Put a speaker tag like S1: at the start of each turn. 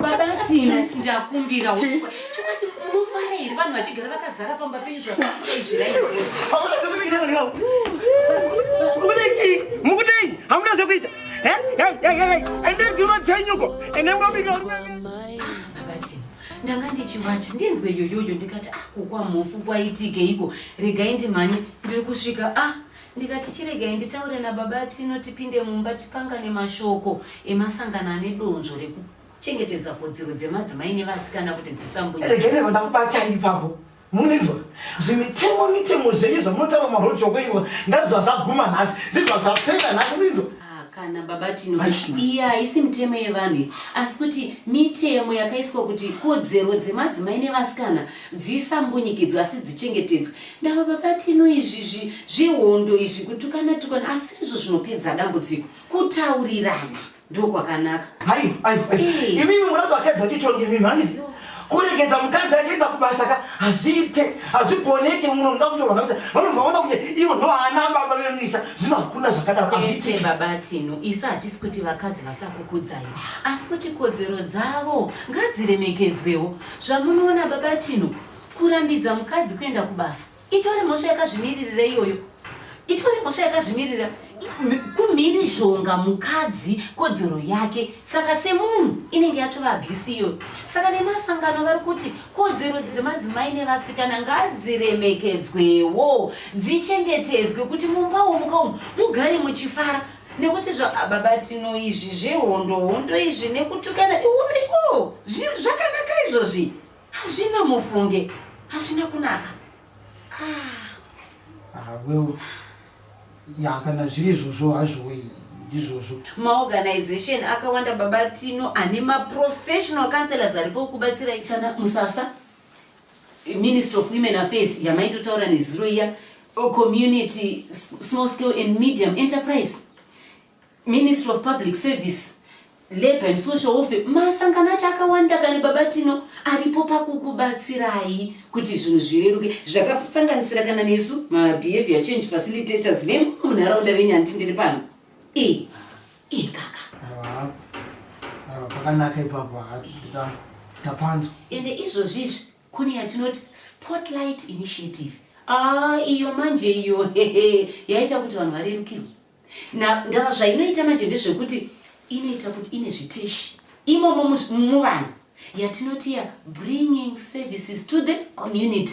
S1: babatino ndakumbira chokwadi munofara here vanhu vachigara vakazara pamba penyu zvaaizviraii
S2: mukudei hamuna zvekuita ende dzima dzenyuko ende mwabika
S1: ndanga ndichiwacha ndinzwe yoyoyo ndikati ah kukwa mhofu kwaitikeiko regai ndimhanye ndiri kusvika ah Ndikati chiregai nditaure nababa Tino tipinde mumba tipangane mashoko emasangano ane donzvo rekuchengetedza kodzero dzemadzimai nevasikana kuti dzisambunye. Regai ndibva
S2: ndakubatai ipapo. Munizwa zvimitemo mitemo zvenyu zvamunotaura maroad shoko ivo ngazviva zvaguma nhasi zviva zvapera nhasi munizwa kana baba
S1: tino iye haisi mitemo yevanhu asi kuti mitemo yakaiswa kuti kodzero dzemadzimai nevasikana Dzisambunyikidzwe asi dzichengetedzwe. Ndava baba Tino izvi zvi, zvehondo izvi kutukana tukana asi izvo zvinopedza dambudziko. Kutaurirana ndokwakanaka. Hai, hai, hai.
S2: Eh. Imimi murati vatadza titonge imimi handizi. Yo. kuregedza mukadzi achienda kubasa ka hazviite hazvigoneke muno muda kuti vanhu vaita vanobva vaona kuti ivo ndoana baba vemisa zvino hakuna zvakadaro hazviite baba tino
S1: isu hatisi kuti vakadzi vasakukudzai asi kuti kodzero dzavo ngadziremekedzwewo Zvamunoona baba Tino, kurambidza mukadzi kuenda kubasa itori mhosva yakazvimiririra iyoyo, itori mhosva yakazvimirira kumhirizhonga mukadzi kodzero yake saka semunhu inenge yatova abuse iyoyo saka nemasangano vari kuti kodzero dzi dzemadzimai nevasikana ngadziremekedzwewo dzichengetedzwe kuti mumba womuka umu mugare muchifara nekuti zvababatino izvi zvehondo hondo izvi nekutukana iuno ikowo zvakanaka izvozvi hazvina mufunge hazvina kunaka awel
S2: ah. ah, ya kana zviri izvozvo hazvoi izvozvo maorganization
S1: akawanda babatino ane maprofessional councellors aripo kubatsira sana musasa Minister of Women Affairs yamaitotaura nezuro iya community small scale and medium enterprise ministry of public service labor and social welfare masangano acho akawanda kani baba tino aripo pakukubatsirai kuti zvinhu zvireruke zvakasanganisira kana nesu mabehavior change facilitators vemumwe munharaunda venyu handi ndiri pano Eh, eh kaka. Awa.
S2: Awa pakanaka ipapo hapita. Tapanzwa. Ende izvozvi
S1: izvi kune yatinoti spotlight initiative. Ah, iyo manje iyo hehe yaita kuti vanhu varerukirwe. Na ndava zvainoita manje ndezvekuti inoita kuti ine zviteshi imomo muvanhu yatinoti ya bringing services to the community.